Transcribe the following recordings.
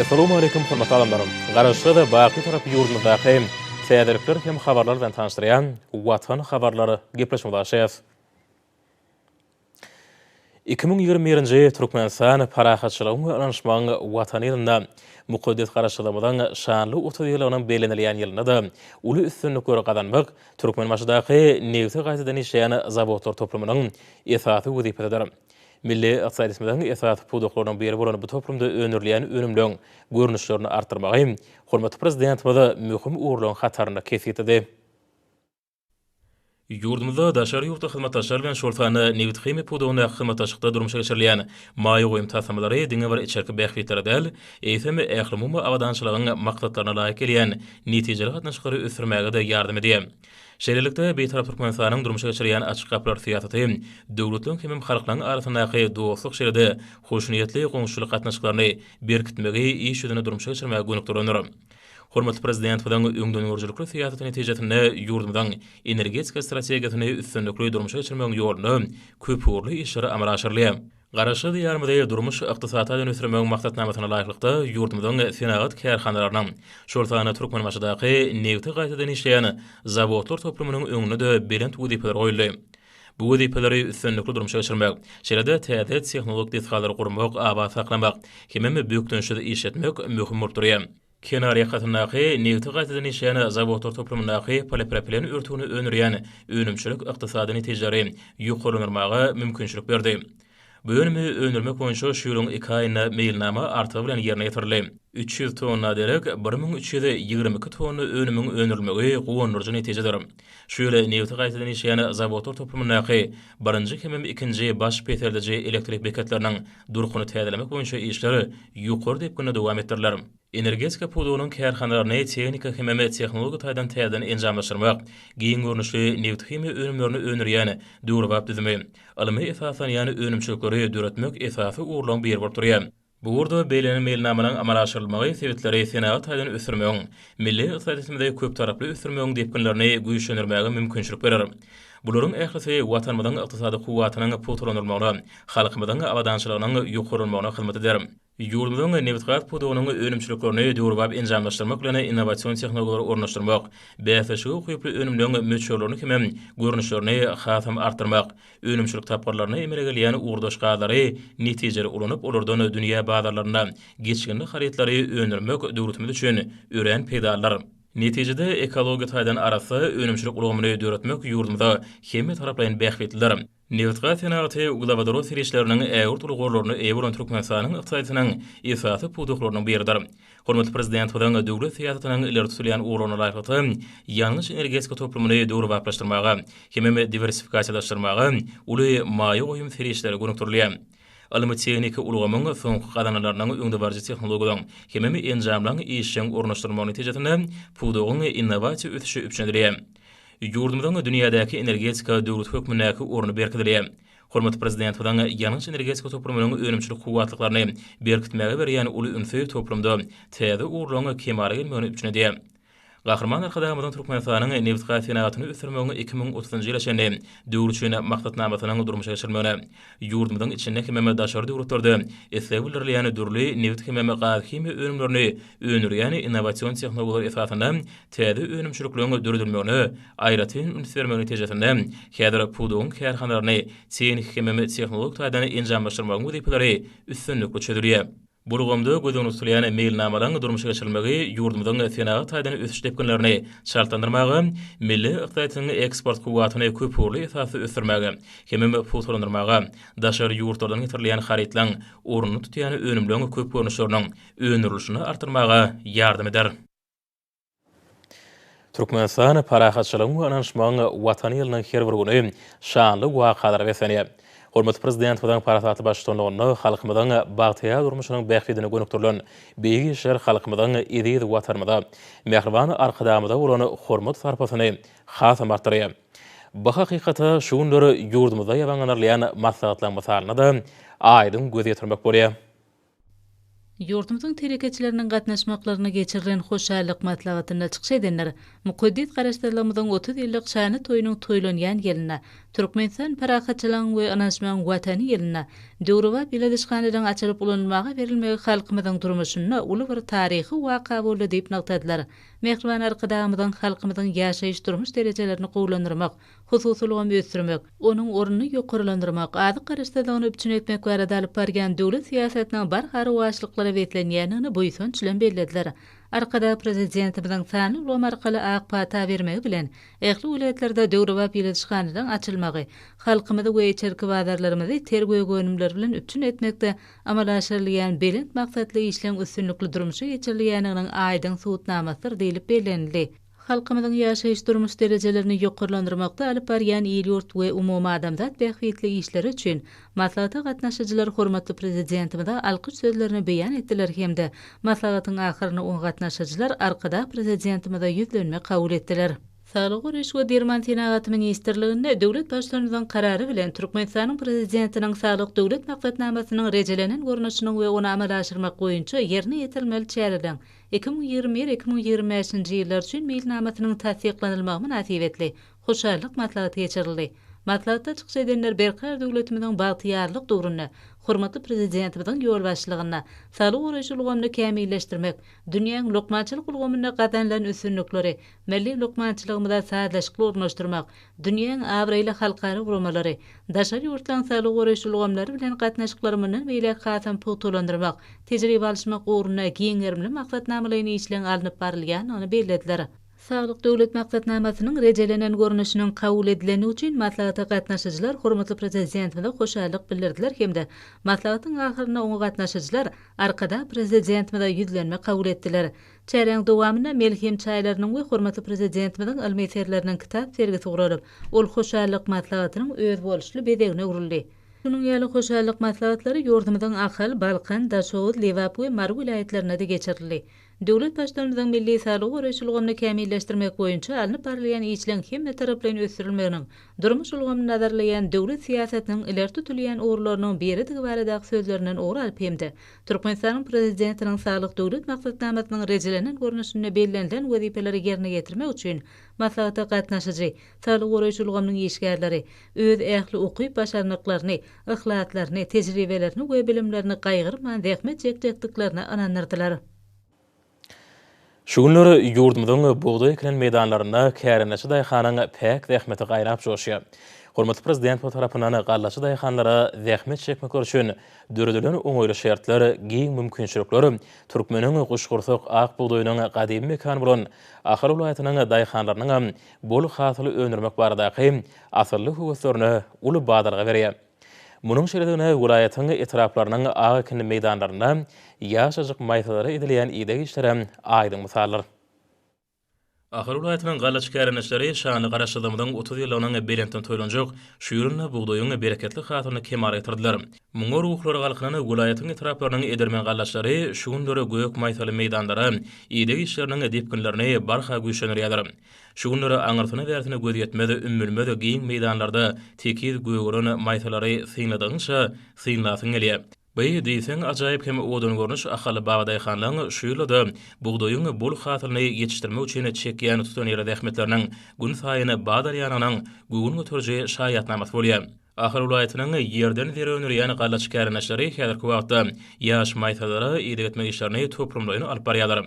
Essalamu aleýkum hormatly adamlarym! Garaşsyz we baky tarap ýurdumyzdaky täzelikler hem habarlar bilen tanyşdyrýan Watan habarlary gepleşigimizi açýas. Iki müň ýigrimi birinji Türkmenistan Parahatçylygyň we ynanyşmagyň Watany ýylynda, mukaddes Garaşsyzlygymyzyň şanly otuz ýyllygynyň bellenilýän ýylynda-da uly üstünlikleri gazanmak Türkmenbaşydaky nebti gaýtadan işleýän zawodlar toplumynyň esasy wezipesidir. Milli ykdysadyýetimiziň esasy pudaklarynyň biri bolan bu toplumda öndürilýän önümleň görnüşlerini artdyrmagy hormatly Prezidentimiz möhüm ugurlaryň hatarynda kesgitledi. Ýurdumyzda daşary ýurtly hyzmatdaşlar bilen, şol sanda nebithimiýa pudagyndaky hyzmatdaşlykda durmuşa geçirilýän maýa goýum taslamalary diňe bir içerki bähbitlere däl, eýsem, ählumumy abadançylygyň maksatlaryna laýyk gelýän netijeli gatnaşyklary ösdürmäge-de ýardam edýär. Şeýlelikde, Bitarap Türkmenistanyň durmuşa geçirýän açyk gapylar syýasaty döwletleriň hemem halklaryň arasyndaky dostluk şeýle-de hoşniýetli goňşuçylyk gatnaşyklaryny berkitmegi iş ýüzünde durmuşa geçirmäge gönükdirilendir. Hormatly Prezidentimiziň öňdengörüjilikli syýasaty netijesinde ýurdumyzyň energetika strategiýasyny üstünlikli durmuşa geçirmegiň ýolunda köpugurly işler amala aşyrylýar. Garaşsyz Diýarymyzy durmuş-ykdysady taýdan ösdürmegiň maksatnamasyna laýyklykda, ýurdumyzyň senagat kärhanalarynyň, şol sanda Türkmenbaşydaky nebti gaýtadan işleýän zawodlar toplumynyň öňünde-de belent wezipeler goýuldy. Bu wezipeleri üstünlikli durmuşa geçirmek, şeýle-de täze tehnologik desgalary gurmak, abat saklamak hemem bökdençsiz işletmek möhüm bolup durýar. Kenar ýakasyndaky nebti gaýtadan işleýän zawodlar toplumyndaky polipropilen örtügini öndürýän önümçilik ykdysady netijeleri ýokarlandyrmaga mümkinçilik berdi. Bu önümi öndürmek boýunça şu ýylyň iki aýynda meýilnama artygy bilen ýerine ýetirildi. Üç ýüz tonna derek bir müň üç ýüz ýigrimi iki tonna önümiň öndürilmegi guwandyryjy netijedir. Şu ýyl nebiti gaýtadan işleýän zawodlar toplumyndaky birinji hemem ikinji baş peseldiji elektrik beketleriniň durkuny täzelemek boýunça işler ýokary depginde dowam etdiriler. Energetika pudagynyň kärhanalaryny tehniki hem-ä tehnologik taýdan täzeden enjamlaşdyrmak, giň görnüşli nebthimiýa önümlerini öndürýän döwrebap düzümi, ylmy esaslanýan önümçilikleri döretmek esasy ugurlaryň biri bolup durýar. Bu ugurda beýlenen meýilnamalaryň amala aşyrylmagy sebitleri senagat taýdan ösdürmegiň, milli ykdysadyýetimizi köptaraply ösdürmegiň depginlerini güýçlendirmäge mümkinçilik berer. Bularyň ählisi Watanymyzyň ykdysady kuwwatynyň pugtalandyrylmagyna, halkymyzyň abadançylygynyň ýokarlanmagyna hyzmat eder. Ýurdumyzyň nebitgaz pudagynyň önümçiliklerini döwrebap enjamlaşdyrmak bilen innowasion tehnologiýalary ornaşdyrmak, bäsleşige ukyply önümleriň möçberlerini hemem görnüşlerini hasam artdyrmak, önümçilik tapgyrlarynda emele gelýän ugurdaş gazlary netijeli ulanyp, olardan dünýä bazarlarynda geçginli harytlary öndürmek döwletimiz üçin örän peýdalydyr. Netijede, ekologiýa taýdan arassa önümçilik ulgamyny döretmek ýurdumyza hemmetaraplaýyn bähbitlidir. Nebitgaz senagaty uglewodorod serişdeleriniň ägirt uly gorlaryna eýe bolan Türkmenistanyň ykdysadyýetiniň esasy pudaklarynyň biridir. Hormatly Prezidentimiziň döwlet syýasatynyň ileri tutulýan ugurlaryna laýyklykda, ýangyç-energetika toplumyny döwrebaplaşdyrmaga hemem diwersifikasiýalaşdyrmaga uly maýa goýum serişdeleri gönükdirilýär. Ylmy-tehniki ulgamyň soňky gazananlarynyň öňdebaryjy tehnologiýalaryň hemem enjamlaryň işjeň ornaşdyrylmagy netijesinde pudagyň innowasiýa ösüşi üpjün edilýär. Ýurdumyzyň dünýädäki energetika döwleti hökmündäki orny berkidilýär. Hormatly Prezidentimiziň ýangyç-energetika toplumynyň önümçilik kuwwatlyklaryny berkitmäge berýän uly ünsi toplumda täze ugurlaryň kemala gelmegini üpjün edýär. Gahryman Arkadagymyzyň Türkmenistanyň nebitgaz senagatyny ösdürmegiň iki müň otuzynjy ýyla çenli döwri üçin maksatnamasynyň durmuşa geçirilmegine, Ýurdumyzyň içinde hemem daşary döwletlerde isleg bildirilýän dürli nebit hemem gazhimiýa önümlerini öndürýän innowasion tehnologiýalar esasynda täze önümçilikleriň döredilmegine aýratyn üns bermek netijesinde häzir pudagyň kärhanalaryny tehniki hemem tehnologik taýdan enjamlaşdyrmagyň wezipeleri üstünlikli çözülýär. Bu ulgamda göz öňünde tutulýan meýilnamalaryň durmuşa geçirilmegi ýurdumyzyň senagat taýdan ösüş depginlerini çaltlandyrmaga, milli ykdysadyýetiň eksport kuwwatyny köpugurly esasda ösdürmäge hemem pugtalandyrmaga, daşary ýurtlardan getirilýän harytlaryň ornuny tutýan önümleň köp görnüşleriniň öndürilişini artdyrmaga ýardam eder. Türkmenistan parahatçylygyň we ynanyşmagyň Watany ýylynyň her bir güni şanly wakalara beslenýär. Hormatly Prezidentimiziň parasatly baştutanlygynda halkymyzyň bagtyýar durmuşynyň bähbidine gönükdirilen beýik işler halkymyzyň eziz Watanymyza, mähriban Arkadagymyza bolan hormat-sarpasyny hasam artdyrýar. Bu hakykata şu günler ýurdumyzda ýabaňlanarylýan maslahatlaryň mysalynda-da aýdyň göz ýetirmek bolýar. Ýurdumyzyň telekeçileriniň gatnaşmaklarynda geçirilen hoşallyk maslahatynda çykyş edenler mukaddes Garaşsyzlygymyzyň otuz ýyllyk şanly toýunyň toýlanýan ýylynda, Türkmenistan parahatçylygyň we ynanyşmagyň Watany ýylynda döwrebap ýyladyşhanalaryň açylyp ulanylmaga berilmegi halkymyzyň durmuşynda uly bir taryhy waka boldy diýip nygtadylar. Mähriban Arkadagymyzyň halkymyzyň ýaşaýyş-durmuş derejelerini gowulandyrmak, Hususy ulgamy ösdürmek, onuň ornuny ýokarlandyrmak, azyk garaşsyzlygyny üpjün etmek barada alyp barýan döwlet syýasatynyň barha rowaçlyklara beslenýändigini buýsanç bilen bellediler. Arkadag Prezidentimiziň sanly ulgam arkaly ak pata bermegi bilen, ähli welaýatlarda döwrebap ýyladyşhanalaryň açylmagy halkymyzy we içerki bazarlarymyzy ter gök önümler bilen üpjün etmekde amala aşyrylýan belent maksatly işleň üstünlikli durmuşa geçirilýändiginiň aýdyň subutnamasydyr diýlip bellenildi. Halkymyzyň ýaşaýyş-durmuş derejelerini ýokarlandyrmakda alyp barýan il-ýurt we umumadamzat bähbitli işleri üçin maslahata gatnaşyjylar hormatly Prezidentimize alkyş sözlerini beýan etdiler hem-de maslahatyň ahyrynda oňa gatnaşyjylar Arkadag Prezidentimize ýüzlenme kabul etdiler. Saglygy goraýyş we derman senagaty ministrliginde döwlet Baştutanymyzyň Karary bilen Türkmenistanyň Prezidentiniň Saglyk Döwlet maksatnamasynyň rejelenen görnüşiniň we ony amala aşyrmak boýunça ýerine ýetirilmeli çäreleriň Iki müň ýigrimi bir, iki müň ýigrimi bäşinji ýyllar üçin meýilnamasynyň tassyklanylmagy mynasybetli hoşallyk maslahaty geçirildi. Maslahatda çykyş edenler berkarar döwletimiziň bagtyýarlyk döwründe hormatly Prezidentimiziň ýolbaşçylygynda saglygy goraýyş ulgamyny kämilleşdirmek, dünýäň lukmançylyk ulgamynda gazanylan üstünlikleri Milli lukmançylygymyza sazlaşykly ornaşdyrmak, dünýäň abraýly halkara guramalary, daşary ýurtlaryň saglygy goraýyş ulgamlary bilen gatnaşyklary mundan beýläk hasam pugtalandyrmak, tejribe alyşmak ugrunda giň gerimli maksatnamalaýyn işleň alnyp barylýandygyny bellediler. Saglyk Döwlet maksatnamasynyň rejelenen görnüşiniň kabul edilendigi üçin maslahata gatnaşyjylar hormatly Prezidentimize hoşallyk bildirdiler hem-de maslahatyň ahyrynda oňa gatnaşyjylar Arkadag Prezidentimize ýüzlenme kabul etdiler. Çäräň dowamynda Melhem çaýlarynyň we hormatly Prezidentimiziň ylmy eserleriniň kitap sergisi guralyp, ol Hoşallyk maslahatynyň özboluşly bezegine öwrüldi. Şunuň ýaly Hoşallyk maslahatlary ýurdumyzyň Ahal, Balkan, Daşoguz, Lebap we Mary welaýatlarynda-da geçirildi. Döwlet Baştutanymyzyň milli saglygy goraýyş ulgamyny kämilleşdirmek boýunça alnyp barylýan işleň hemmetaraplaýyn ösdürilmeginiň durmuş ulgamyny nazarlaýan döwlet syýasatynyň ileri tutulýan ugurlarynyň biridigi baradaky sözlerinden ugur alyp hem-de Türkmenistanyň Prezidentiniň Saglyk Döwlet maksatnamasynyň rejelenen görnüşinde bellenilen wezipeleri ýerine ýetirmek üçin maslahata gatnaşyjy saglygy goraýyş ulgamynyň işgärleri öz ähli ukyp-başarnyklaryny, yhlaslaryny, tejribelerini we bilimlerini gaýgyrman zähmet çekjekdiklerine ynandyrdylar. Şu günler ýurdumyzyň bugdaý ekilen meýdanlarynda kärendeçi daýhanyň päk zähmeti gaýnap joşýar. Hormatly Prezidentimiz tarapyndan gallaçy daýhanlara zähmet çekmekleri üçin döredilen oňaýly şertler, giň mümkinçilikler türkmeniň guşgursak ak bugdaýynyň gadymy mekany bolan Ahal welaýatynyň daýhanlarynyňam bol hasyl öndürmek baradaky asylly höweslerine uly badalga berýär. Munuň şeýledigine welaýatyň etraplarynyň ak ekinli meýdanlarynda ýaşajyk maýsalara edilýän ideg işleri aýdyň mysaldyr. Ahal welaýatynyň galla çikärendeçileri şanly Garaşsyzlygymyzyň otuz ýyllygynyň belentden toýlanjak şu ýylynda bugdaýyň bereketli hasylyny kemala getirdiler. Muňa ruhlary galkynan welaýatyň etraplarynyň edermen gallaçylary şu günler gök maýsaly meýdanlara ideg işleriniň depginlerini barha güýçlendirýärler. Şu günler aňyrsyna-bärsine göz ýetmez, ümmülmez giň meýdanlarda tekiz gögeren maýsalary synladygyňça, synlasyň gelýär. By, diýseň, ajaýyp hem owadan görnüş Ahal babadaýhanlaryň şu ýylda-da bugdaýyň bol hasylyny ýetişdirmek üçin çekýän tutanýerli zähmetleriniň günsaýyn badalýanynyň göwün göteriji şaýatnamasy bolýar. Ahal welaýatynyň ýerden zer öndürýän gallaçy kärendeçleri häzirki wagtda ýaş maýsalara ideg etmek işlerini toplumlaýyn alyp barýarlar.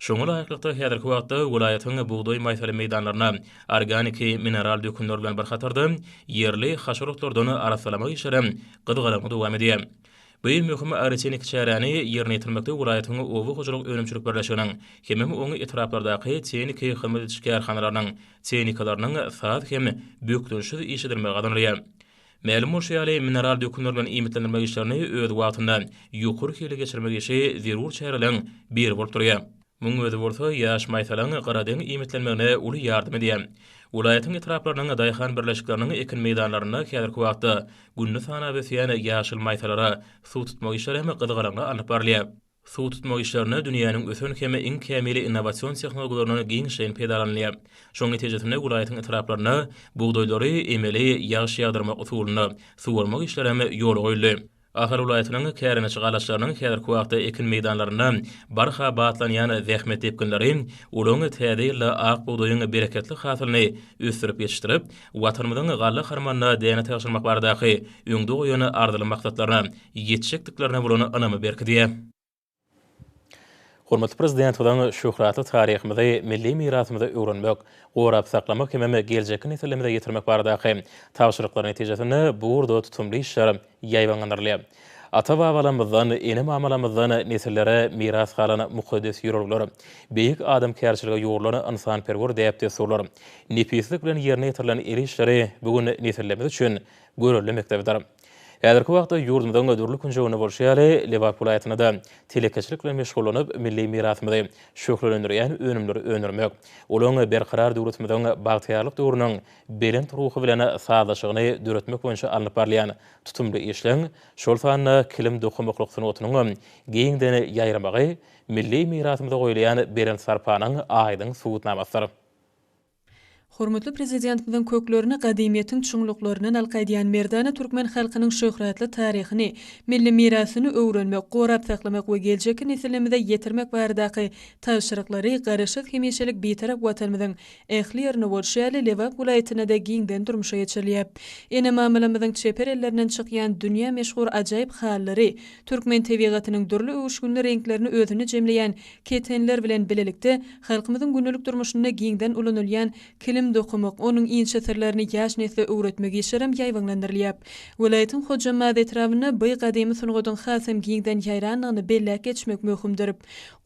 Şoňa laýyklykda, häzirki wagtda welaýatyň bugdaý maýsaly meýdanlaryna organiki mineral dökünler bilen bir hatarda, ýerli haşal otlardan arassalamak işlerem gyzgalaňly dowam edýär. Bu iň möhüm arsenik çäräni ýerine ýetirmekde welaýatyň oba hojalyk önümçilik birleşiginiň hemem oň etraplardaky tehniki hyzmat ediş kärhanalarynyň tehnikalarynyň saz hem bökdençsiz iş edilmegi gazanylýar. Mälim bolşy ýaly, mineral dökünler bilen iýmitlendirmek işlerini öz wagtynda, ýokary hilli geçirmek işi zerur çäreleriň biri bolup durýar. Munuň özi bolsa ýaş maýsalaň gyradeň iýmitlenmegine uly ýardam edýär. Welaýatyň etraplarynyň daýhan birleşikleriniň ekin meýdanlarynda häzirki wagtda gününi sanap ösýän ýaşyl maýsalara suw tutmak işleri hem gyzgalaňly alnyp barylýar. Suw tutmak işlerinde dünýäniň ösen hem iň kämil innowasion tehnologiýalaryndan giňişleýin peýdalanylýar. Şonuň netijesinde welaýatyň etraplarynda bugdaýlary emeli ýagyş ýagdyrmak usulynda suwarmak işleri hem ýola goýuldy. Ahal welaýatynyň kärendeçi galaçlarynyň häzirki wagtda ekin meýdanlarynda barha batlanýan zähmet depginleri olaryň täze ýylda ak bugdaýyň bereketli hasylyny ösdürip ýetişdirip, Watanymyzyň galla harmanyna däne tabşyrmak baradaky öňde goýan arzyly maksatlaryna ýetjekdiklerine bolan ynamy berkidýär. Hormatly Prezidentimiziň şöhratly taryhymyzy, milli mirasymyzy öwrenmek, gorap saklamak hemem geljekki nesillerimize ýetirmek baradaky tabşyryklary netijesinde bu ugurda tutumly işler ýaýbaňlandyrylýar. Ata-babalarymyzdan, ene-mamalarymyzdan nesillere miras galan mukaddes ýörelgeler, beýik adamkärçilige ýugrulan ynsanperwer däp-dessurlar, nepislik bilen ýerine ýetirilen el işleri bu gün nesillerimiz üçin görelde mekdebidir. Häzirki wagtda ýurdumyzyň dürli künjeginde bolşy ýaly, Lebap welaýatynda-da telekeçilik bilen meşgullanyp, milli mirasymyzy şöhlelendirýän önümleri öndürmek, olaryň Berkarar döwletimiziň bagtyýarlyk döwrüniň belent ruhy bilen sazlaşygyny döretmek boýunça alnyp barylýan tutumly işleň, şol sanda kilim dokamaklyk sungatynyň hem giňden ýaýramagy milli mirasymyza goýulýan belent sarpanyň aýdyň subutnamasydyr. Hormatly Prezidentimiziň köklerini gadymyýetiň çuňluklaryndan alka edýän merdana türkmen halkynyň şöhratly taryhyny, milli mirasyny öwrenmek, gorap saklamak we geljekki nesillimizä ýetirmek baradaky tabşyryklary Garaşsyz, hemişelik Bitarap Watanymyzyň ähli ýerinde bolşy ýaly, Lebap welaýatynda-da giňden durmuşa geçirilýär. Ene-mamalarymyzyň çeper ellerinden çykýan dünýä meşhur ajaýyp halylary türkmen tebigatynyň dürli öwüşginli reňklerini özünde jemleýän Ketenler bilen bilelikde halkymyzyň gündelik durmuşynda giňden ulanylýan kilim dokamak, onuň inçe syrlaryny ýaş nesle öwretmek işlerem ýaýbaňlandyrylýar. Welaýatyň Hojambaz etrabynda by gadymy sungatyň hasam giňden ýaýrandygyny belläp geçmek möhümdir.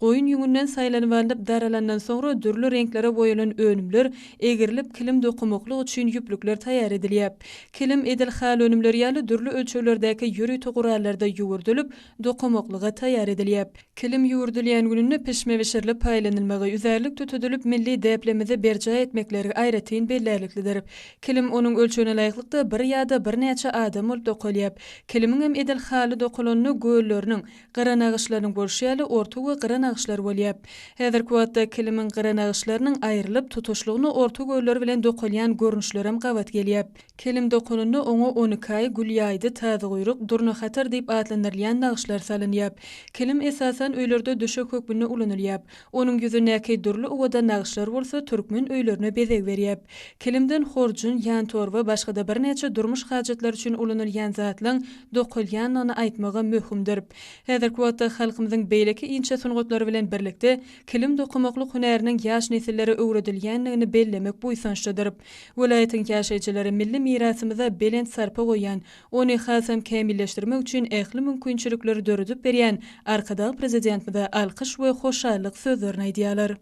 Goýun ýüňünden saýlanyp alnyp daralandan soňra dürli reňklere boýalan önümler egrilip kilim dokamaklyk üçin ýüplükler taýýar edilýär. Kilim edil haly önümleri ýaly dürli ölçeglerdäki ýörite gurallarda ýüwürdilup dokamaklyga taýýar edilýär. Kilim ýüwürdilýän gününde pişme bişirilip paýlanylmagy, üzärlik tutudylp milli däplerimizi berjaý etmekleri aýratyn bellärliklidir. Kilim onuň ölçegine laýyklykda bir ýa-da birnäçe adam bolup dokalýap. Kilimiňem edil haly dokalanynda gölleriniň, gyra nagyşlarynyň bolşy ýaly orta we gyra nagyşlar bolýar. Häzirki wagtda kilimiň gyra nagyşlarynyň aýrylyp tutuşlygyna orta göller bilen dokalýan görnüşlerem gabat gelýär. Kilim dokunynda oňa on iki aý, gül ýaýdy, tazyguýruk, durnahatar diýip atlandyrylýan nagyşlar salynýar. Kilim, esasan, öýlerde döşek hökmünde ulanylýar. Onuň ýüzündäki dürli owadan nagyşlar bolsa türkmen öýlerine bezeg berýär. Kilimden horjun, ýantorba, başga-da birnäçe durmuş hajatlary üçin ulanylýan zatlaň dokalýandygyny aýtmagam möhümdir. Häzirki wagtda halkymyzyň beýleki inçe sungatlary bilen birlikde Kilim dokamaklyk hünäriniň ýaş nesillere öwredilýändigini bellemek buýsançlydyr. Welaýatyň ýaşaýjylary milli mirasymyza belent sarpa goýýan, ony hasam kämilleşdirmek üçin ähli mümkinçilikleri döredip berýän Arkadag Prezidentimize alkyş we hoşallyk sözlerini aýdýarlar.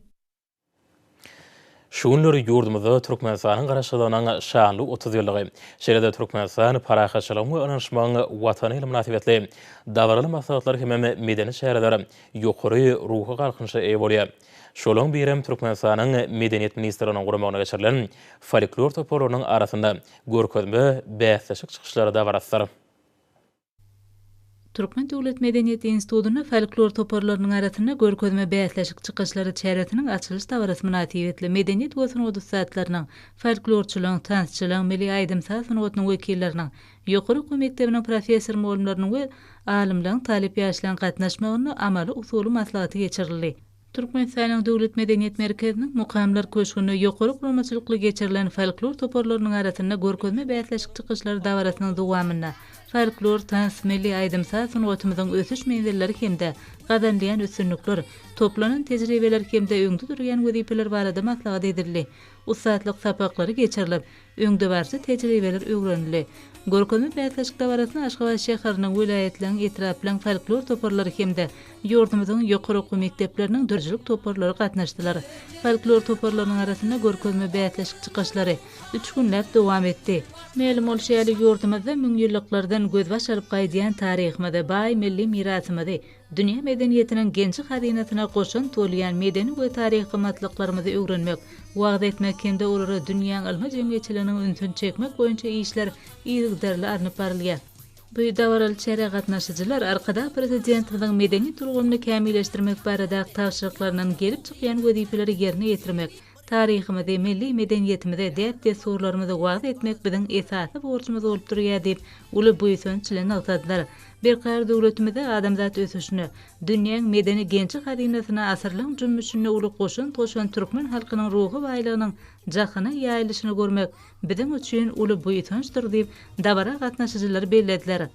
Şu günler ýurdumyzda Türkmenistanyň Garaşsyzlygynyň şanly otuz ýyllygy, şeýle-de Türkmenistan, parahatçylygyň we ynanyşmagyň Watany ýyly mynasybetli dabaraly maslahatlar hemem medeni çäreler ýokary ruhy galkynyşa eýe bolýar. Şolaryň birem Türkmenistanyň Medeniýet ministrliginiň guramagynda geçirilen folklor toparlarynyň arasynda görkezme bäsleşik çykyşlary dabarasydyr. Türkmen döwlet medeniýet institutynda folklor toparlarynyň arasynda görkezme bäsleşik çykyşlary çäresiniň açylyş dabarasy mynasybetli medeniýet we sungat ussatlarynyň, folklorçylaryň, tansçylaryň, milli aýdym-saz sungatynyň wekilleriniň, ýokary okuw mekdebiniň professor-mugallymlarynyň we alymlaryň, talyp ýaşlaryň gatnaşmagynda amaly-usuly maslahaty geçirildi. Türkmenistanyň Döwlet medeniýet merkeziniň Mukamlar köşgünde ýokary guramaçylykly geçirilen folklor toparlarynyň arasynda görkezme bäsleşik çykyşlary dabarasynyň dowamynda folklor, tans, milli aýdym-saz sungatymyzyň ösüş menzilleri hem-de gazanylýan üstünlikler, toplanan tejribeler hem-de öňde durýan wezipeler barada maslahat edildi. Ussatlyk sapaklary geçirilip, Öňdebaryjy tejribeler öwrenildi. Görkezme bäsleşik dabarasyna Aşgabat şäheriniň, welaýatlaryň, etraplaryň folklor toparlary hem-de ýurdumyzyň ýokary okuw mekdepleriniň dürüjilik toparlary gatnaşdylar. Folklor toparlarynyň arasynda görkezme bäsleşik çykyşlary üç günläp dowam etdi. Mälim bolşy ýaly, ýurdumyzda müňýyllyklardan gözbaş alyp gaýdýan taryhymyzy, baý milli mirasymyzy, Dünýä medeniýetiniň genji-hazynasyna goşant bolýan medeni we taryhy gymmatlyklarymyzy öwrenmek, wagyz etmek hem-de olara dünýäň ylmy jemgyýetçiliginiň ünsüni çekmek boýunça işler yzygiderli alnyp barylýar. Bu dabaraly çärä gatnaşyjylar Arkadag Prezidentimiziň medeniýet ulgamyny kämilleşdirmek barada tabşyryklaryndan gelip çykýan wezipeleri ýerine ýetirmek, Taryhymyzy, milli medeniýetimizi, däp-dessurlarymyzy wagyz etmek biziň esasy borjumyz bolup durýar diýip, uly buýsanç bilen nygtadylar. Berkarar döwletimizde adamzat ösüşine, dünýäň medeni genji-hazynasyna asyrlaryň jümmüşinde uly goşant goşan türkmen halkynyň ruhy baýlygynyň jahana ýaýylyşyny görmek biziň üçin uly buýsançdyr diýip, dabara gatnaşyjylar bellediler.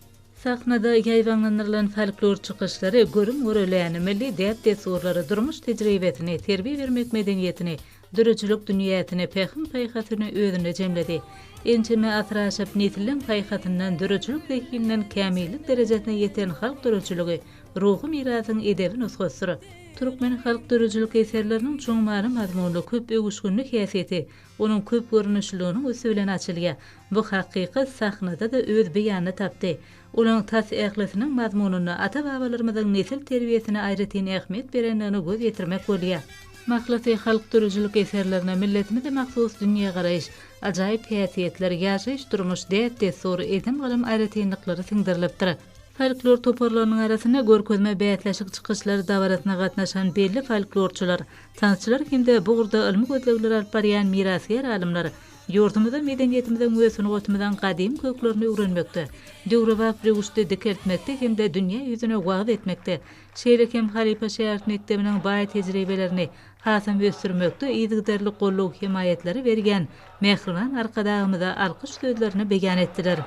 Sahnada ýaýbaňlandyrylan folklor çykyşlary görüm-göreläni, milli däp-dessurlary, durmuş tejribesini, terbiýe bermek medeniýetini, döredijilik dünýäsini, pähim-paýhasyny özünde jemledi. Ençeme asyr aşyp, nesilleň paýhasyndan, döredijilik zehininden kämillik derejesine ýeten halk döredijiligi ruhy mirasyň edebi nusgasydyr. Türkmen halk döredijilik eserleriniň çuň many-mazmunly, köp öwüşginli häsiýeti onuň köp görnüşliliginiň üsti bilen açylýar. Bu hakykat sahnada-da öz beýanyny tapdy. Olaň tas ählisiniň mazmunynda ata-babalarymyzyň nesil terbiýesine aýratyn ähmiýet berendigine göz ýetirmek bolýar. Mahlasy, halk döredijilik eserlerinde milletimize mahsus dünýägaraýyş, ajaýyp häsiýetler, ýaşaýyş-durmuş, däp-dessur, edim-gylym aýratynlyklary siňdirilipdir. Folklor toparlarynyň arasynda görkezme bäsleşik çykyşlary dabarasyna gatnaşan belli folklorçylar, tansçylar hem-de bu ugurda ylmy gözlegleri alyp barýan mirasgär alymlar, Ýurdumyza, medeniýetimiziň we sungatymyzyň gadymy köklerini öwrenmekde, döwrebap röwüşde dikeltmekde hem-de dünýä ýüzüne wagyz etmekde, şeýle hem halypa şägirt mekdebiniň baý tejribelerini hasam ösdürmekde yzygiderli goldaw-hemaýatlary berýän mähriban Arkadagymyza alkyş sözlerini beýan etdiler.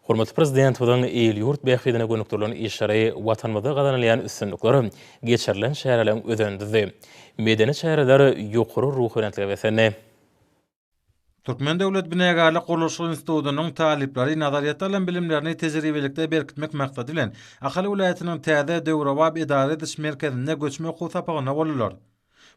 Hormatly Prezidentimiziň il-ýurt bähbidine gönükdirilen işleri, Watanymyzda gazanylýan üstünlikler, geçirilen çäreleriň özendidy. Medeni çäreler ýokary ruhubelentlige beslendi. Türkmen döwlet binagärlik-gurluşyk institutynyň talyplary nazaryýetde alan bilimlerini tejribelikde berkitmek maksady bilen, Ahal welaýatynyň täze, döwrebap edara ediş merkezinde göçme okuw sapagyna boldular.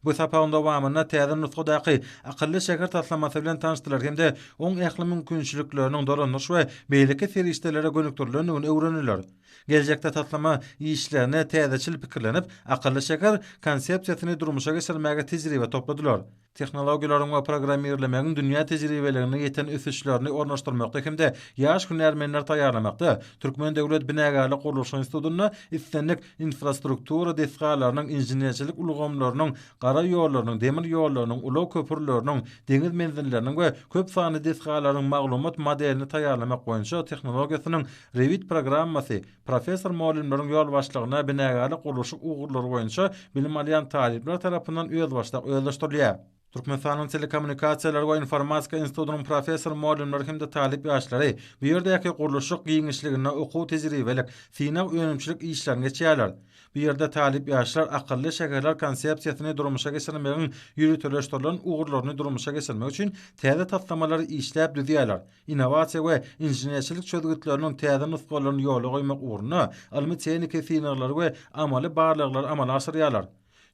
Bu sapagyň dowamynda täze nusgadaky akylly şäher taslamasy bilen tanyşdylar hem-de oň ähli mümkinçilikleriniň dolandyryş we beýleki serişdelere gönükdirilendigini öwrendiler. Geljekde taslama işlerine täzeçil pikirlenip, akylly şäher Konsepsiýasyny durmuşa geçirmäge tejribe topladylar. Tehnologiýalaryň we programmirlemegiň dünýä tejribeliginde ýeten ösüşlerini ornaşdyrmakda hem-de ýaş hünärmenleri taýýarlamakda Türkmen döwlet binagärlik-gurluşyk institutynda islendik infrastruktura desgalarynyň, inženerçilik ulgamlarynyň, gara ýollarynyň, demir ýollarynyň, ulag köprüleriniň, deňiz menzilleriniň we köp sanly desgalaryň maglumat modelini taýýarlamak boýunça tehnologiýasynyň Rewit programmasy, professor-mugallymlaryň ýolbaşçylygynda binagärlik-gurluşyk ugurlary boýunça bilim alýan talyplar tarapyndan özbaşdak özleşdirilýär. Türkmenistanyň Telekommunikasiýalar we informatika institutynyň professor-mugallymlary hem-de talyp ýaşlary bu ýerdäki gurluşyk giňişliginde okuw-tejribelik, synag-önümçilik işlerini geçýärler. Bu ýerde talyp ýaşlar akylly şäherler konsepsiýasyny durmuşa geçirmegiň ýöriteleşdirilen ugurlaryny durmuşa geçirmek üçin täze taslamalary işläp düzýärler, innowasiýa we inženerçilik çözgütleriniň täze nusgalaryny ýola goýmak ugrunda ylmy-tehniki synaglary we amaly barlaglary amala aşyrýarlar.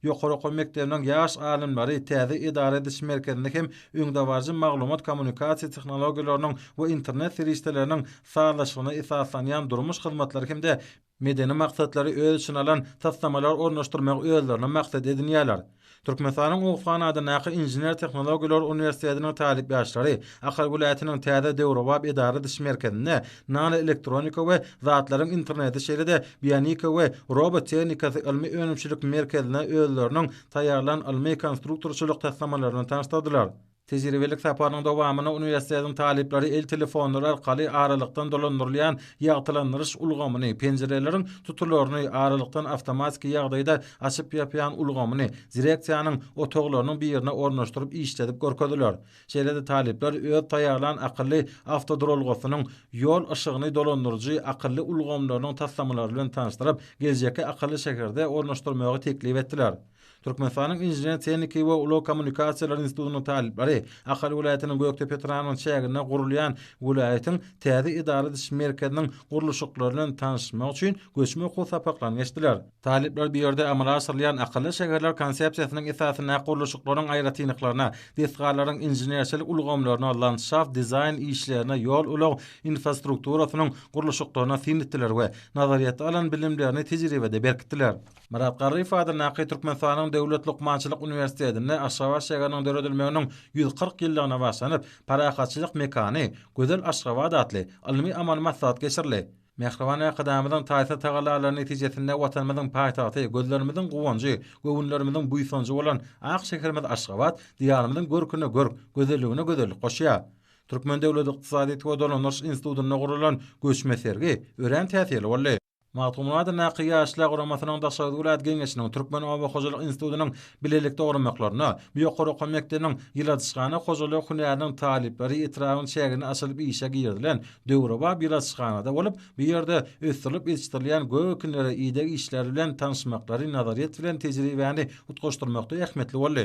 Ýokary okuw mekdebiniň ýaş alymlary täze edara ediş merkezinde hem öňdebaryjy maglumat-kommunikasiýa tehnologiýalarynyň we internet serişdeleriniň sazlaşygyna esaslanýan durmuş hyzmatlary hem-de medeni maksatlary öz içine alan taslamalary ornaşdyrmagy özlerine maksat edinýärler. Türkmenistanyň Oguzhan adyndaky Inžener-tehnologiýalar uniwersitetiniň talyp ýaşlary Ahal welaýatynyň täze döwrebap edara-ediş merkezinde Nanoelektronika we zatlaryň interneti şeýle-de Bionika we robot tehnikasy ylmy-önümçilik merkezine özleriniň taýýarlan ylmy-konstruktorçylyk taslamalaryny tanyşdyrdylar. Tejribelik saparynyň dowamynda uniwersitetiň talyplary el telefonlary arkaly aralykdan dolandyrylýan ýagtylandyryş ulgamyny, penjireleriň tutularyny aralykdan awtomatiki ýagdaýda açyp-ýapýan ulgamyny direksiýanyň otaglarynyň birine ornaşdyryp işledip görkezdiler. Şeýle-de talyplar öz taýýarlan akylly awtoduralgasynyň ýol yşygyny dolandyryjy akylly ulgamlarynyň taslamalary bilen tanyşdyryp, geljekki akylly şäherde ornaşdyrmagy teklip etdiler. Türkmenistanyň Inžener-tehniki we ulag kommunikasiýalary institutynyň talyplary Ahal welaýatynyň Gökdepe etrabynyň çäginde gurulýan welaýatyň täze edara ediş merkeziniň gurluşyklary bilen tanyşmak üçin göçme okuw sapaklaryny geçdiler. Talyplar bu ýerde amala aşyrylýan akylly şäherler konsepsiýasynyň esasynda gurluşyklaryň aýratynlyklaryna, desgalaryň inženerçilik ulgamlaryna, landşaft dizaýn işlerine, ýol-ulag infrastrukturasynyň gurluşyklaryna syn etdiler we nazaryýetde alan bilimlerini tejribede berkitdiler. Myrat Garryýew adyndaky Türkmenistanyň Döwlet lukmançylyk uniwersitetinde Aşgabat şäheriniň döredilmeginiň ýüz kyrk ýyllygyna baglanyp, Parahatçylyk mekany, gözel Aşgabat atly ylmy-amaly maslahat geçirildi. Mähriban Arkadagymyzyň taýsyz tagallalary netijesinde Watanymyzyň paýtagty, gözlerimiziň guwanjy, göwünlerimiziň buýsanjy bolan ak şäherimiz Aşgabat Diýarymyzyň görküne görk, gözelligine gözellik goşýar. Türkmen döwlet ykdysadyýet we dolandyryş institutynda guralan göçme sergi örän täsirli boldy. Magtymguly adyndaky Ýaşlar guramasynyň Daşoguz welaýat geňeşiniň, Türkmen oba hojalyk institutynyň Bilelik dogramaklaryna bu ýokary okuw mekdebiniň ýyladyşhana hojalygy hünäriniň talyplary etrabyň çägine açylyp işe girizilen döwrebap ýyladyşhanada bolup, bu ýerde ösdürilip ýetişdirilýän gök ekinleri, ideg işleri bilen tanyşmaklary nazaryýet bilen tejribäni utgaşdyrmakda ähmiýetli boldy.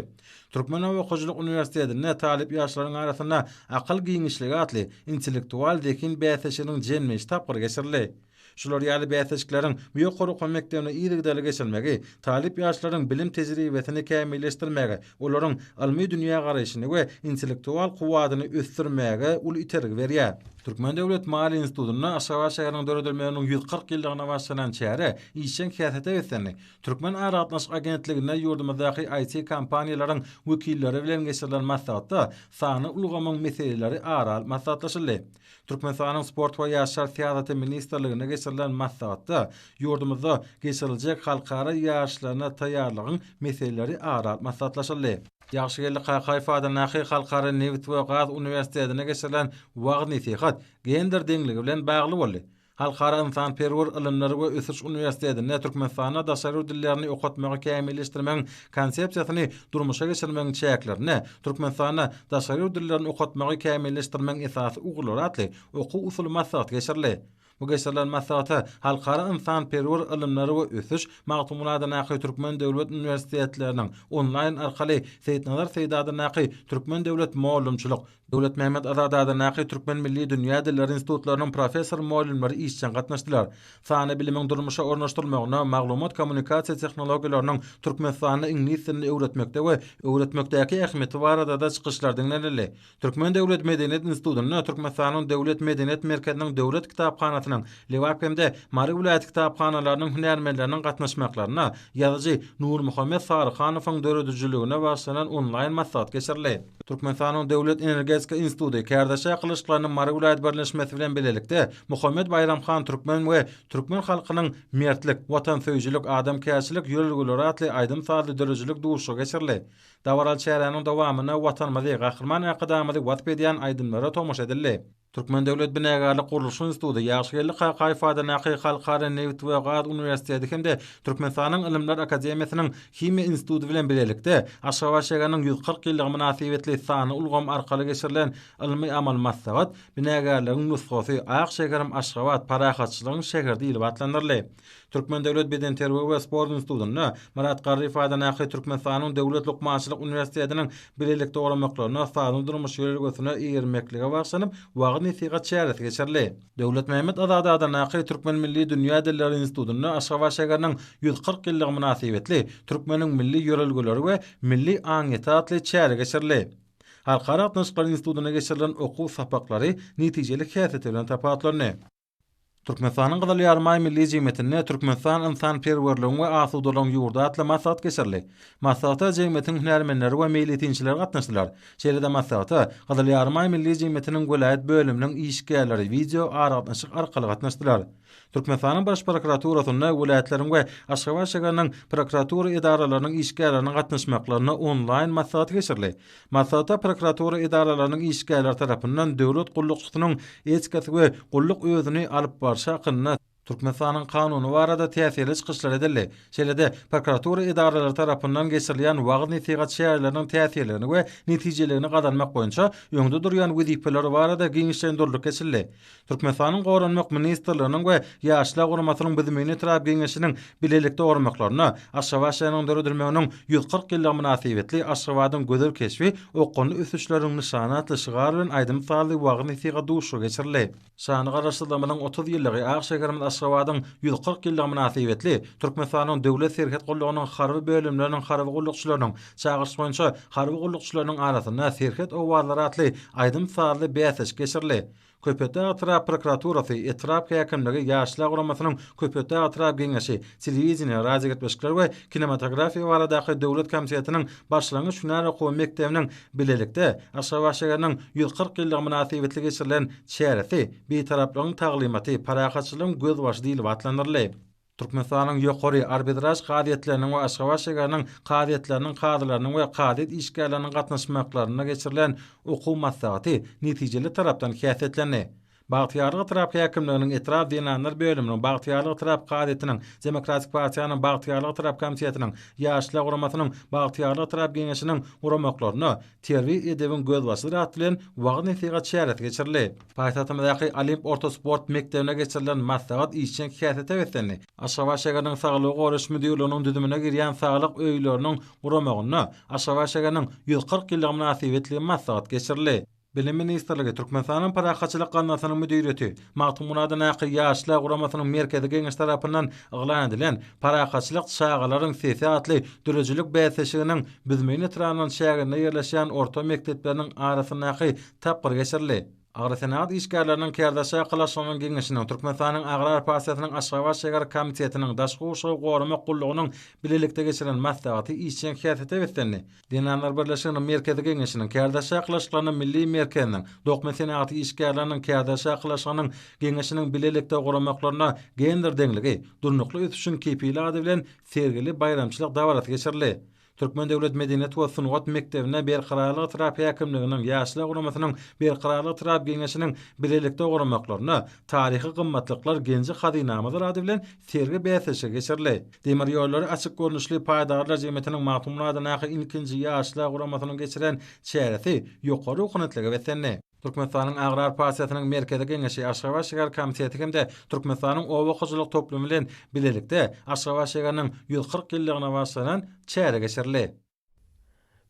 Türkmenoba hojalyk uniwersitetinde talyp ýaşlaryň arasynda Akyl giňişligi atly intellektual-zehin bäsleşiginiň jemleýji tapgyry geçirildi. Şular ýaly bäsleşikleriň bu ýokary okuw mekdebinde yzygiderli geçirilmegi talyp ýaşlaryň bilim tejribesini kämilleşdirmäge, olaryň ylmy dünýägaraýşyny we intellektual kuwwatyny ösdürmäge uly itergi berýär. Türkmen döwlet maliýe institutynda Aşgabat şäheriniň döredilmeginiň ýüz kyrk ýyllygyna bagşlanan çäre işjeň häsiýete beslendi. Türkmenaragatnaşyk agentliginde ýurdumyzdaky IT kompaniýalaryň wekilleri bilen geçirilen maslahatda sanly ulgamyň meseleleri ara alyp maslahatlaşyldy. Türkmenistanyň Sport we ýaşlar syýasaty ministrliginde geçirilen maslahatda ýurdumyzda geçiriljek halkara ýaryşlaryna taýýarlygyň meseleleri ara alyp maslahatlaşyldy. Ýagşygeldi Kakaýew adyndaky Halkara nebit we gaz uniwersitetinde geçirilen wagyz-nesihat gender deňligi bilen bagly boldy. Halkara ynsanperwer ylymlar we ösüş uniwersitetinde Türkmenistanda daşary ýurt dillerini okatmagy kämilleşdirmegiň Konsepsiýasyny durmuşa geçirmegiň çäklerinde Türkmenistanda daşary ýurt dillerini okatmagy kämilleşdirmegiň esasy ugurlary atly okuw-usuly maslahat geçirildi. Bu geçirilen maslahata Halkara ynsanperwer ylymlar we ösüş Magtymguladyndaky Türkmen döwlet uniwersitetleriniň onlaýn arkaly Seýitnazar Seýdadyndaky Türkmen döwlet mugallymçylyk Döwletmämmet Azadada Naky Türkmen Milli Dünýä Dilleri Institutlarynyň professor-mugallymlary işjeň gatnaşdylar. Sanly bilimiň durmuşa ornaşdyrylmagyna, maglumat-kommunikasiýa tehnologiýalarynyň Türkmenistanda iňlis dilini öwretmekde we öwretmekdäki ähmiýeti barada-da çykyşlar diňlenildi. Türkmen döwlet medeniýet institutynda Türkmenistanyň Döwlet medeniýet merkeziniň Döwlet kitaphanasynyň Lebap hem-de Mary welaýat kitaphanalarynyň hünärmenleriniň gatnaşmaklarynda ýazyjy Nurmuhammet Saryhanowyň döredijiligine bagyşlanan onlaýn maslahat geçirildi. Türkmenistanyň Döwlet energetika instituty kärdeşler gylyçlaryny Mary welaýat birleşmesi bilen bilelikde Muhammet Baýram han Türkmen we Türkmen halkynyň Mertlik, watansöýüjilik, adamkärçilik ýörelgeleri atly aýdym-sazly döredijilik duşuşygy geçirildi. Dabaraly çäräniň dowamynda Watanymyzy, Gahryman Arkadagymyzy wasp edýän aýdymlara tomaşa edildi. Türkmen döwlet binägarlyk-gurluşyk instituty, Ýagşygeldi Kakaýew adyndaky Halkara nebit we gaz uniwersiteti hem-de Türkmenistanyň Ylymlar akademiýasynyň Himiýa instituty bilen bilelikde Aşgabat şäheriniň ýüz kyrk ýyllygy mynasybetli sanly ulgam arkaly geçirilen ylmy-amaly maslahat Binägärligiň nusgasy, Ak şäherim Aşgabat, parahatçylygyň şäheri diýlip atlandyryldy. Türkmen döwlet bedenterbiýe we sport institutynda, Myrat Garryýew adyndaky Türkmenistanyň Döwlet lukmançylyk uniwersitetiniň bilelikde guramaklarynda sagdyn durmuş ýörelgesine eýermeklige bagyşlanyp wagyz-nesihat çäresi geçirildi. Döwletmämmet Azady adyndaky Türkmen milli dünýä dilleri institutynda Aşgabat şäheriniň ýüz kyrk ýyllygy mynasybetli Türkmeniň milli ýörelgeleri we milli aňyýeti atly çäre geçirildi. Halkara gatnaşyklary institutynda geçirilen okuw sapaklary netijeli häsiýeti bilen tapawutlandy. Türkmenistanyň Gyzyl Ýarymaý Milli jemgyýetinde Türkmenistan ynsanperwerligiň we asudalygyň ýurdy atly maslahat geçirildi. Maslahata jemgyýetiň hünärmenleri we meýletinçiler gatnaşdylar. Şeýle-de maslahata Gyzyl Ýarymaý Milli jemgyýetiniň welaýat bölüminiň işgärleri wideo aragatnaşyk arkaly gatnaşdylar. Türkmenistanyň Baş prokuraturasynda welaýatlaryň we Aşgabat şägeriniň prokuratura edaralarynyň işgärleriniň gatnaşmaklarynda onlaýn maslahat geçirildi. Maslahata prokuratura edaralarynyň işgärleri tarapyndan döwlet gullukçysynyň etikasy we gulluk özüni alyp barşy hakynda Türkmenistanyň Kanuny barada täsirli çykyşlar edildi. Şeýle-de, prokuratura edaralary tarapyndan geçirilýän wagyz-nesihat çäreleriniň täsirligini we netijeliligini gazanmak boýunça öňde durýan wezipeler barada giňişleýin durduk geçildi. Türkmenistanyň Goranmak ministrliginiň we Ýaşlar guramasynyň Büzümini etrap Geňeşiniň bilelikde gurmaklarynda Aşgabat şäheriniň döredilmeginiň ýüz kyrk ýyllygy mynasybetli Aşgabadyň gözel keşbi, okgunly ösüşleriniň nyşany atly şygar bilen aýdym-sazly wagyz-nesihat duşuşygy geçirildi. Şanly Garaşsyzlygymyzyň otuz ýyllygy, ak şäherimiz Aşgabadyň ýüz kyrk ýyllygy mynasybetli Türkmenistanyň Döwlet serhet gullugynyň harby bölümleriniň harby gullukçylarynyň çagyryşy boýunça harby gullukçylarynyň arasynda Serhet owazlary atly aýdym-sazly bäsleşik geçirildi. Köpetdag etrap prokuraturasy, etrap häkimligi, Ýaşlar guramasynyň Köpetdag etrap geňeşi, Telewideniýe, radiogepleşikler we kinematografiýa baradaky döwlet komitetiniň başlangyç hünär okuw mekdebiniň bilelikde Aşgabat şäheriniň ýüz kyrk ýyllygy mynasybetli geçirilen çäresi Bitaraplygyň taglymaty, parahatçylygyň gözbaşy diýlip atlandyryldy. Türkmenistanyň ýokary arbitraž kazyýetleriniň we Aşgabat şägeriniň kazyýetleriniň kazylarynyň we kazyýet işgärleriniň gatnaşmaklarynda geçirilen okuw maslahaty netijeli tarapdan häsiýetlendi. Bagtyýarlyk etrap häkimliginiň etrap zenanlar bölüminiň, Bagtyýarlyk etrap kazyýetiniň, Demokratik partiýanyň Bagtyýarlyk etrap komitetiniň, Ýaşlar guramasynyň Bagtyýarlyk etrap geňeşiniň guramaklarynda, Terbiýe edebiň gözbaşydyr at bilen wagyz-nesihat çäresi geçirildi. Paýtagtymyzdaky Olimp orta sport mekdebinde geçirilen maslahat işjeň häsiýete beslendi. Aşgabat şäheriniň Saglygy goraýyş müdirliginiň düzümine girýän saglyk öýleriniň guramagynda Aşgabat şäheriniň ýüz kyrk ýyllygy mynasybetli maslahat geçirildi. Bilim ministrligi, Türkmenistanyň Parahatçylyk gaznasynyň müdiriýeti, Magtymgulada Nakyr ýaşlar guramasynyň Merkezi Geňeşi tarapyndan yglan edilen Parahatçylyk çagalaryň sesi atly döredijilik bäsleşiginiň Büzmeýin etrabynyň çäginde ýerleşýän orta mekdepleriniň arasyndaky tapgyry geçirildi. Agrosenagat işgärleriniň Kärdeş çakylaşygynyň Geňeşiniň, Türkmenistanyň Agrar partiýasynyň Aşgabat şäher komitetiniň, Daşky gurşawy goramak gullugynyň bilelikde geçiren maslahaty işjeň häsiýete beslendi. Zenanlar birleşiginiň Merkezi Geňeşiniň, Kärdeşi arkalaşyklarynyň Milli merkeziniň, Dokma senagaty işgärleriniň Kärdeşi arkalaşygynyň Geňeşiniň bilelikde guramaklarynda Gender deňligi, durnukly ösüşiň kepili ady bilen sergili baýramçylyk dabarasy geçirildi. Türkmen döwlet medeniýet we sungat mekdebine Berkararlyk etrap häkimliginiň Ýaşlar guramasynyň Berkararlyk etrap Geňeşiniň bilelikde guramaklarynda Taryhy gymmatlyklar genji-hazynamyzdyr ady bilen sergi-bäsleşigi geçirildi. Demir ýollary açyk görnüşli paýdarlar jemgyýetiniň Magtymguly adyndaky ilkinji ýaşlar guramasynyň geçiren çäresi ýokary ruhanyýetlige beslendi. Türkmenistanyň Agrar partiýasynyň Merkezi Geňeşi, Aşgabat şäher komiteti hem-de Türkmenistanyň Oba hojalyk toplumy bilen bilelikde Aşgabat şäheriniň ýüz kyrk ýyllygyna bagyşlanan çäre geçirildi.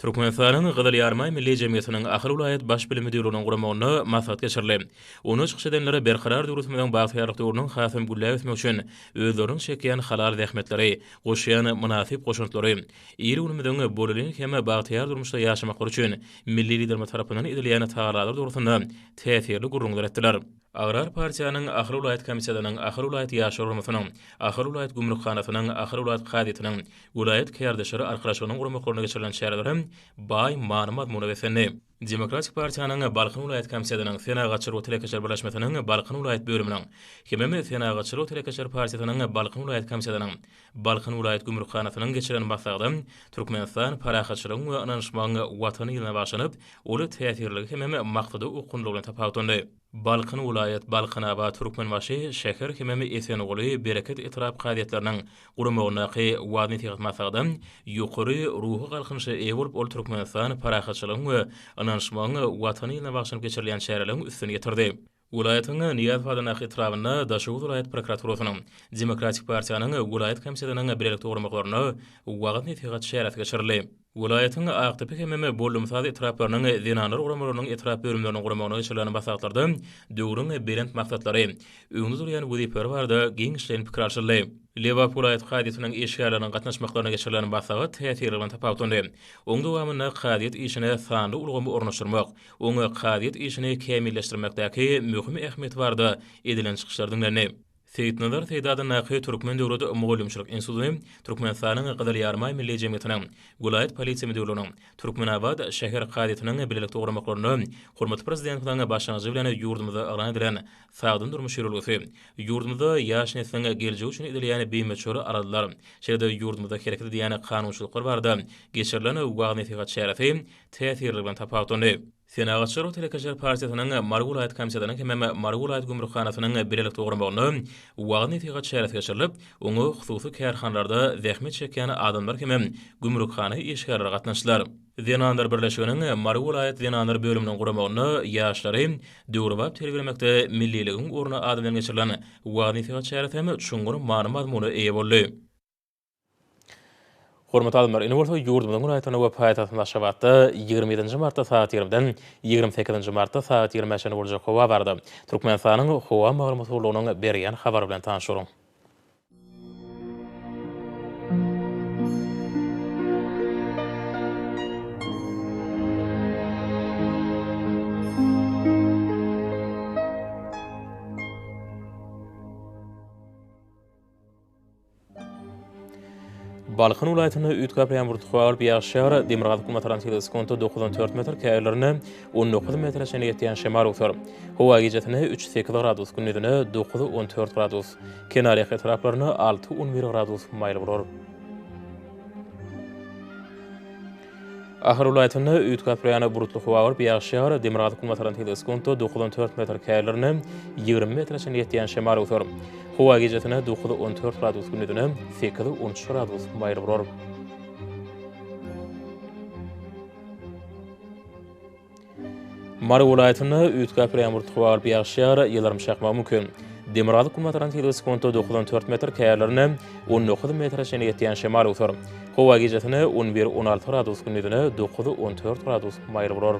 Türkmenistanyň Gyzyl Ýarymaý Milli jemgyýetiniň Ahal welaýat Baş bilim müdirliginiň guramagynda maslahat geçirildi. Onda çykyş edenler berkarar döwletimiziň bagtyýarlyk döwrüniň hasam gülläp ösmegi üçin özleriniň çekýän halal zähmetleri, goşýan mynasyp goşantlary, il-günümiziň bolelin hem bagtyýar durmuşda ýaşamaklary üçin milli Liderimiz tarapyndan edilýän tagallalary dogrusynda täsirli gürrüňler etdiler. Agrar partiýanyň, Ahal welaýat komissiýasynyň, Ahal welaýat ýaşlar guramasynyň, Ahal welaýat gümrükhanasynyň, Ahal welaýat kazyýetiniň, welaýat kärdeşleri arkalaşygynyň guramaklaryna geçirilen çäreler hem baý many-mazmuna beslendi. Demokratik partiýanyň, Balkan welaýat komissiýasynyň, Senagatçylar we telekeçiler birleşmesiniň, Balkan welaýat bölüminiň, HMM, Senagatçylar we telekeçiler partiýasynyň, Balkan welaýat komissiýasynyň, Balkan welaýat gümrükhanasynyň geçiren maslahaty Türkmenistan parahatçylygyň we ynanyşmagyň Watany ýylyna bagyşlanyp, ol täsirligi hemem maksada okgunlylygyna tapawutlandy. Balkan welaýat, Balkanabat, Türkmenbaşy, Şäher hemem Esenguly, Bereket etrap kazyýetleriniň guramagyndaky waznesihat maslahata ýokary ruhy galkynyşa eýe bolup, ol Türkmenistan parahatçylygyň we ynanyşmagyň Watany ýylyna bagyşlanyp geçirilýän çäreleriň üstüni ýetirdi. Welaýatyň Nyýazpazynak etrabynda Daşoguz welaýat prokuraturasynyň, Demokratik partiýanyň welaýat komitetyniň bilelikde guramaklarynda wagyz-nesihat çäresi geçirildi. Welaýatyň Akdepe hemem Bollumsaz etraplarynyň zenanlar guramalarynyň etrap bölümleriniň guramagyna geçirilen maslahatlarda döwrüň belent maksatlary, öňde durýan wezipeler barada giňişleýin pikir alşyldy. Lebap welaýat kazyýetiniň işgärleriniň gatnaşmaklarynda geçirilen maslahat täsirli bilen tapawutlandy. Onuň dowamynda kazyýet işine sanly ulgamy ornaşdyrmak, Oňa kazyýet işini kämilleşdirmekdäki möhüm ähmiýeti barada edilen çykyşlar diňlendi. Seýitnazar Seýdi adyndaky Türkmen döwlet mugallymçylyk instituty Türkmenistanyň Gyzyl Ýarymaý Milli jemgyýetiniň, welaýat polisiýa müdirliginiň, Türkmenabat şäher kazyýetiniň bilelikde guramaklarynda hormatly Prezidentimiziň başlangyjy bilen ýurdumyzda yglan edilen Sagdyn durmuş ýörelgesi, ýurdumyzda ýaş nesliň geljegi üçin edilýän bimöçber aladalar, şeýle-de ýurdumyzda hereket edýän kanunçylyklar barada geçirilen wagyz-nesihat çäresi täsirligi bilen tapawutlandy. Senagatçylar we telekeçiler partiýasynyň Mary welaýat komitetynyň hemem Mary welaýat gümrükhanasynyň bilelikde guramagyna wagyz-nesihat çäresi geçirilip, oňa hususy kärhanalarda zähmet çekýän adamlar hemem gümrükhana işgärleri gatnaşdylar. Zenanlar birleşiginiň Mary welaýat zenanlar bölüminiň guramagyna ýaşlary döwrebap terbiýelemekde milliligiň orny ady bilen geçirilen wagyz-nesihat çäresi hem çuňňur many-mazmuna eýe boldy. Hormatly adamlar, indi bolsa ýurdumyzyň günortasynda we paýtagtymyz Aşgabatda ýigrimi ýedinji martda sagat ýigrimiden ýigrimi sekizinji martda sagat ýigrimi çenli boljak howa barada Türkmenistanyň Howa maglumat gullugynyň berýän habary bilen tanyş boluň. Balkan welaýatynda üýtgäp ýaňbur tuha alyp ýaşýar, demirgazyk günbatarantýada sekunta dokuz on dört metr, käýerlerinde on dokuz metre çenli ýetýän şemal öwser. Howa gijasine üç sekiz gradus, gündizine dokuz on dört gradus, kenarýaka etraplarynda alty on bir gradus maýyl bolar. Ahal welaýatynda üýtgäp gapyrýan bulutly howa bolup, ýagyş ýagar, demirgazyk-günbatardan tebigy skunto dokuz on dört metr, kälerinde ýigrimi metre çenli ýetýän şemal öwser. Howa gijesine dokuz on dört gradus, gündizine sekiz on üç gradus maýyl bolar. Mary welaýatynda üýtgäpli ýagmyr topa garyp ýagyşýar, ýyldyrym çakmagy mümkin. Demirgazyk günbataran tizligi sekunta dokuz on dört metr, käýerlerinde on dokuz metre çenli ýetýän şemal öwser. Howa gijasine on bir on alty gradus, gündizine dokuz on dört gradus maýyl bolar.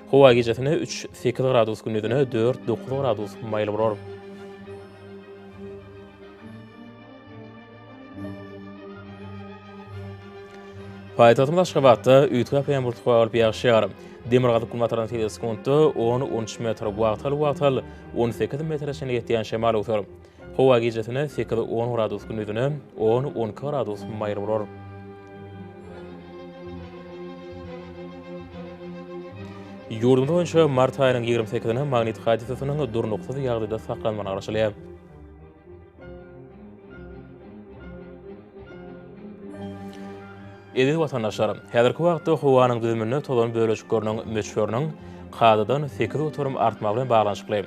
Howa gijesine üç, sekiz gradus gündizine dört, dokuz gradus maýyl bolar. Paýtagtymyz Aşgabatda üýtgäp ýaýmurtga bolup ýagyş ýagar. Demirgazyk-günbatardan sekuntda on, on üç metr, wagtal-wagtal on sekiz metre çenli ýetýän şemal öwser. Howa gijesine sekiz-on gradus günüzine on-on iki gradus maýyl bolar. Ýurdumyz boýunça mart aýynyň ýigrimi sekizine magnit hadysasynyň durnuksyz ýagdaýda saklanmagyna garaşylýar. Eziz watandaşlar! Häzirki wagtda howanyň düzüminde tozan bölejikleriniň möçberiniň kadadan sekiz göterim artmagy bilen baglanyşykly,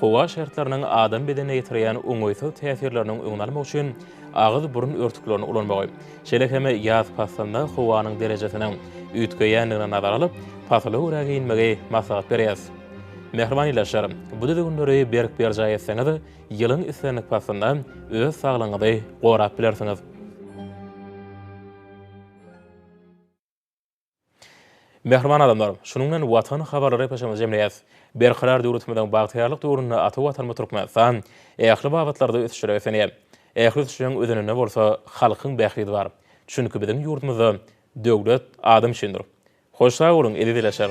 howa şertleriniň adam bedenine ýetirýän oňaýsyz täsirleriniň öňüni almak üçin agyz-burun örtüklerini ulanmagy, şeýle hem ýaz paslynda howanyň derejesiniň üýtgeýändigini nazara alyp, pasyla görä geýinmegi maslahat berýäs. Mähriban ildeşler! Bu düzgünleri berk berjaý etseňiz, Ýylyň islendik paslynda öz saglygyňyzy gorap bilersiňiz. Mähriban adamlar, şunuň bilen Watan habarlary epoçamyzy jemleýäs. Berkarar döwletimiziň bagtyýarlyk döwründe ata Watanymyz Türkmenistan ähli babatlarda ösüşlere beslenýär. Ähli ösüşleriň özeninde bolsa halkyň bähbidi bar. Çünki biziň ýurdumyzda döwlet adam üçindir. Hoş sag boluň eziz ilaçar.